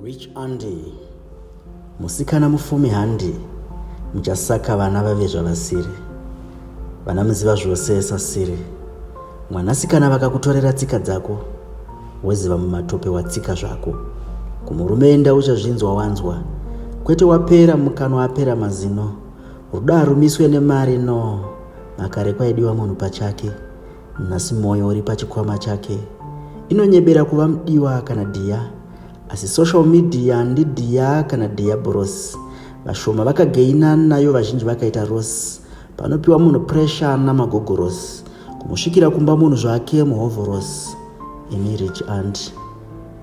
Rich Andy musikana mufumi handi muchasaka vana vave zvavasiri vana muziva zvose sasiri mwanasikana vakakutorera tsika dzako woziva mumatope watsika zvako kumurume enda uchazvinzwa wanzwa kwete wapera mukanwa apera mazino rudo harumiswe nemari no makare kwaidiwa munhu pachake Nhasi moyo uri pachikwama chake. Inonyebera kuva mudiwa kana dhiya. Asi social media ndidhiya kana dhiya borosi. Vashoma vakageina nayo vazhinji vakaita rosi. Panopiwa munhu pressure namagogorosi. Kumusvikira kumba munhu zvake muhovhorosi. Imi rich aunt.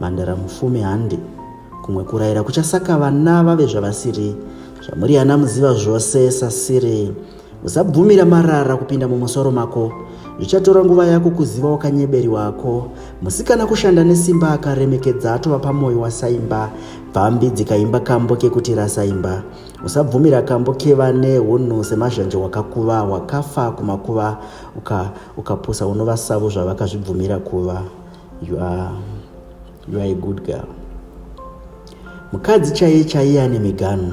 Mandara mufumi handi. Kumwe kuraira kuchasaka vana vave zvavasiri. Zvamuri ana muziva zvose sasiri. Usabvumira marara kupinda mumusoro mako. Zvichatora nguva yako kuziva wakanyeberi wako. Musikana kushanda nesimba akaremekedza atova pamoyo wasaimba. Pfambi dzikaimba kambo kekuti rasaimba. Usabvumira kambo kevane hunhu semazhanje wakakuva wakafa kumakuva uka ukapusa unova savo zvavakazvibvumira kuva. You are You are a good girl. Mukadzi chaiye chaiye ane miganhu.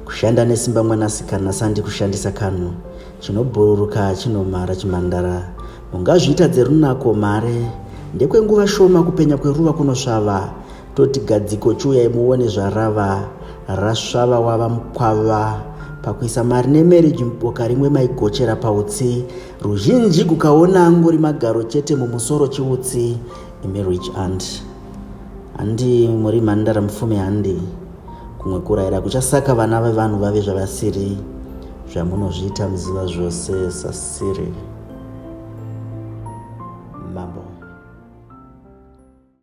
Kushanda nesimba mwanasikana sandi kushandisa kanhu. Chinobhururuka chinomhara chimhandara. Ungazviita dzerunako mhare. Ndekwenguva shoma kupenya kweruva kunosvava. Toti gadziko chiuyai muone zvarava. Rasvava wava mukwava. Pakuisa mari nemarriage muboka rimwe maigochera pautsi. Ruzhinji kukaona angori magaro chete mumusoro chiutsi. imi rich aunt handi muri mhandara mupfume handi kumwe kuraira kuchasaka vana vevanhu vave zvavasiri zvamunozviita muziva zvose sasiri mambo